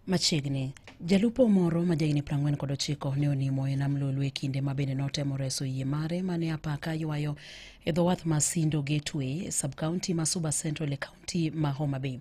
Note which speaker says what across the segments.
Speaker 1: Machiegni Jalupo moro ma jahigni 49 ne onimo e nam Lolwe e kinde ma bende notemo reso yie mare ma ne apaka ywayo e dho wath ma Sindo Gateway e sub-county ma Suba Central e county ma Homa Bay.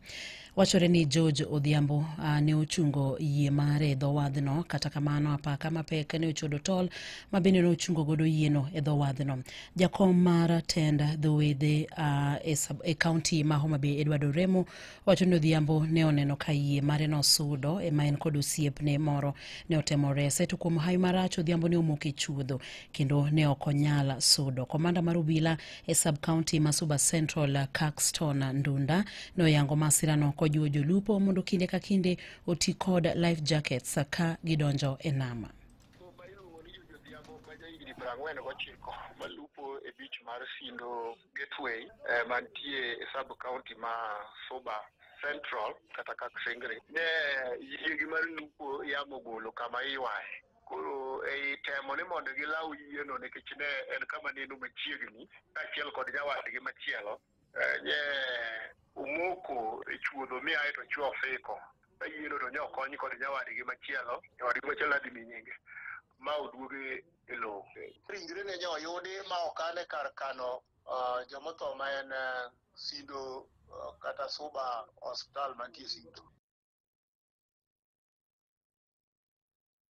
Speaker 1: Wachore ni George Odhiambo uh, ne ochungo yie mare e dho wadhno, kata kamano apaka mapek ne ochodo tol ma bende ne ochungo godo yieno e dho wadhno. Jakom mar tend dho wedhe uh, e, e county ma Homa Bay Edward Oremo Wacho ni Odhiambo ne oneno ka yie mare nosudo ema en kod osiepne moro ne otemo rese to kuom hawi marach Odhiambo ne omoko e chuodho kendo ne ok onyal sudo. Komanda mar obila e sub county ma Suba Central Caxton Ndunda ne oyango masirano kojiwo jolupo mondo kinde ka kinde oti kod life jackets ka gidonjo e nam. Oba iluongo ni Jojo Odhiambo ma jahigni piero ang'wen gochiko malupo e beach mar Sindo Gateway eh, mantie e sub county ma Suba Central kata Kaksingri ne yiegi mar lupo yamo golo kama iwaye koro ei temo ni mondo gilaw yieno nikech ne en kama neno machiegni kaachiel kod nyawadgi machielo eh, nye omoko e chuodho mi aye to chwe ofiko Kayieno to nyo kony kod nyawadgi machielo, nyawadgi machielo nadhi mi nyinge ma oduoge e lowo. Ringre ne nyo yudi ma okane kar kano uh, jomotho ma en uh, Sindo uh, kata Suba Hospital mantie Sindo.